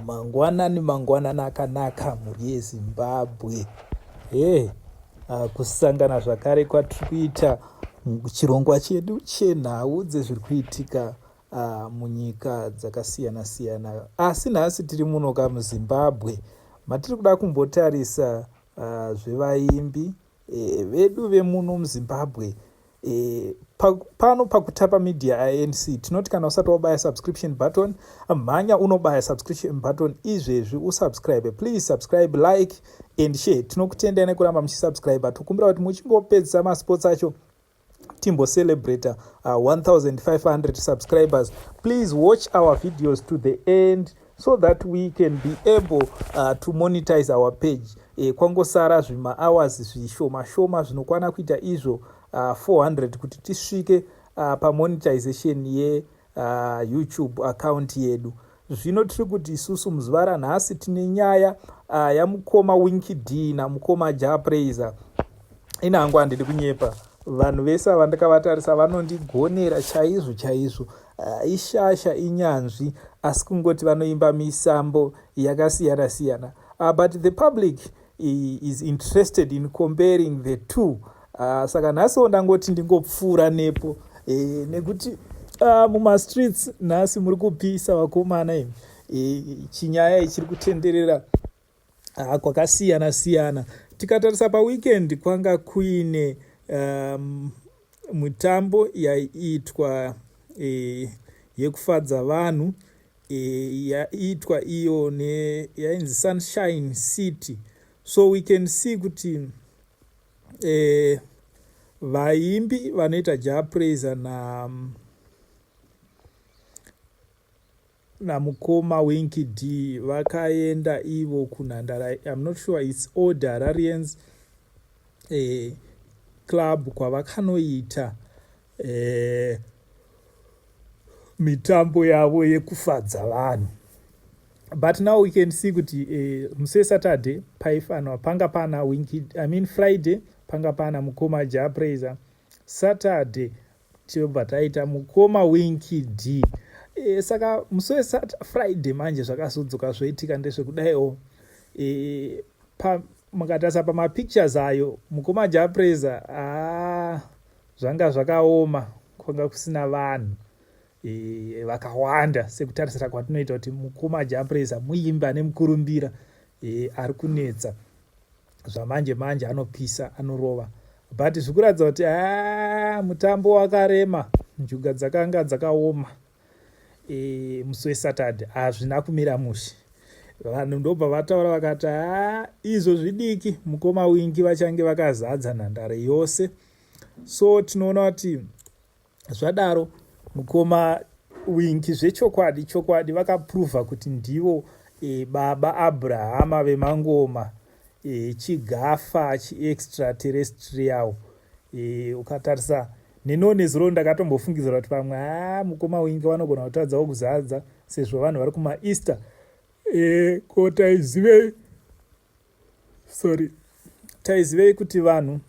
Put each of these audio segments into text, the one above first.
Mangwanani mangwanani akanaka mhuri yeZimbabwe. Hey, ah, kusangana zvakare kwatiri kuita chirongwa chedu chenhau dzezviri kuitika ah, munyika dzakasiyana siyana. Asi nhasi tiri muno ka muZimbabwe matiri kuda kumbotarisa ah, zvevaimbi e, vedu vemuno muzimbabwe e, pa, pano pakutapa media anc tinoti kana usati wabaya subscription button mhanya unobaya subscription button izvezvi usubscribe please subscribe like and share tinokutendai nekuramba muchisubscribe tokumbira kuti muchingopedzisa masports acho timbo celebrator uh, 1500 subscribers please watch our videos to the end so that we can be able uh, to monetize our page e, kwangosara zvimahours zvishoma shoma zvinokwana kuita izvo uh, 400 kuti tisvike uh, pamonetization ye uh, youtube account yedu zvino tiri kuti isusu muzuva ranhasi tine nyaya uh, yamukoma winki d namukoma ja praiser ini hangu handidi kunyepa vanhu vese avandikavatarisa vanondigonera chaizvo chaizvo uh, ishasha inyanzvi asi kungoti vanoimba misambo yakasiyana siyana uh, but the public is interested in comparing the two uh, saka nhasiwo ndangoti ndingopfuura nepo e, nekuti uh, mumastreets nhasi muri kupisa vakomana imi e, chinyaya ichiri kutenderera uh, kwakasiyana siyana tikatarisa paweekend kwanga kuine um, mitambo yaiitwa e, yekufadza vanhu e, yaitwa iyo ne yainzi sunshine city so we can see kuti e, vaimbi vanoita ja praiser na namukoma winky d vakaenda ivo kunhandara im not sure its old hararians e, club kwavakanoita eh, mitambo yavo yekufadza vanhu but now we can see kuti eh, muse saturday paifanwa panga pana winki i mean friday panga pana mukoma ja praiser saturday tichobva taita mukoma winki d e, saka musi wefriday manje zvakazodzoka zvoitika ndezvekudaiwo e, eh, pa, mukatarisa pamapictures ayo mukoma ja praiser aa ah, zvanga zvakaoma kwanga kusina vanhu e, vakawanda sekutarisira kwatinoita kuti mukoma jampresa muimbi ane mukurumbira e, ari kunetsa zvamanje manje anopisa anorova but zvikuratidza kuti a mutambo wakarema njuga dzakanga dzakaoma e, musi wesaturday hazvina kumira mushe vanhu ndobva vataura vakati a izvo zvidiki mukoma wingi vachange vakazadza nhandare yose so tinoona kuti zvadaro mukoma winki zvechokwadi chokwadi vakapruvha kuti ndivo e, baba abrahama vemangoma e, chigafa chiextraterrestrial e, ukatarisa neniwo nezuro ndakatombofungidzira kuti pamwe a mukoma winki vanogona kutadzawo kuzadza sezvo vanhu vari kumaeaster e, ko taizivei sorry taizivei kuti vanhu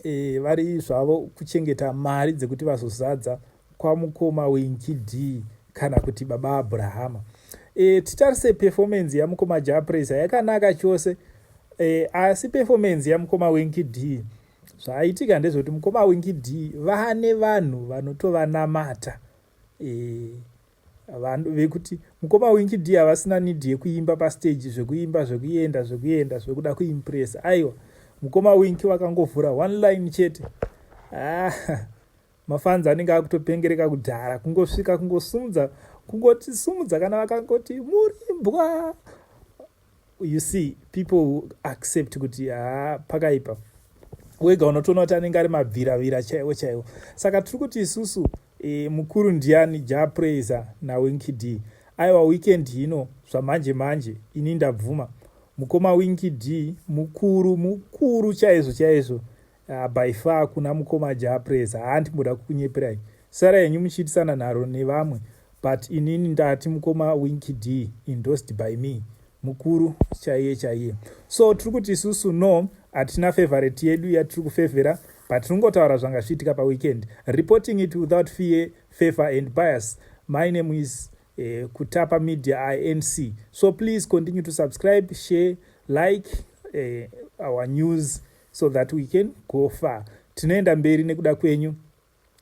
e, vari zvavo kuchengeta mari dzekuti vazozadza kwamukoma wenkidii kana kuti baba abrahama e, titarise performance yamukoma japresa yakanaka chose e, asi performance yamukoma wenkidii zvaitika ndezvekuti mukoma wenkidii vane vanhu vanotovanamata e, vanhu vekuti mukoma winky d havasina need yekuimba pastage zvekuimba zvekuenda zvekuenda zvekuda kuimpresa aiwa mukoma winky vakangovhura one line chete ah, mafanzi anenge akutopengereka kudhara kungosvika kungosumudza kungotisumudza kana vakangoti murimbwa you see people who accept kuti haa pakaipa wega unotoona kuti anenge ari mabviravira chaiwo chaiwo saka tiri kuti isusu e, mukuru ndiani japraiser nawinkid aiwa weekend hino zvamanje manje ini ndabvuma mukoma winkid mukuru mukuru chaizvo chaizvo Ah, by far kuna mukoma japres hanti mboda kukunyeperai sara henyu muchiitisana nharo nevamwe but inini ndati mukoma winki d endorsed by me mukuru chaiye chaiye so tiri kuti isusu no hatina favorite yedu yatiri kufevhera but tinongotaura zvanga zviitika paweekend reporting it without fear favor and bias my name is eh, kutapa media inc so please continue to subscribe share like eh, our news so that we can go far tinoenda mberi nekuda kwenyu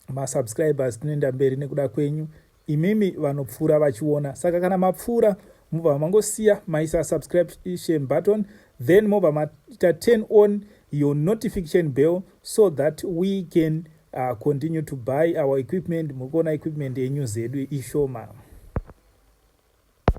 masubscribers tinoenda mberi nekuda kwenyu imimi vanopfuura vachiona saka kana mapfuura mobva mangosiya maisa subscription button then mobva maita turn on your notification bell so that we can uh, continue to buy our equipment mukuona equipment yenyu zedu ishoma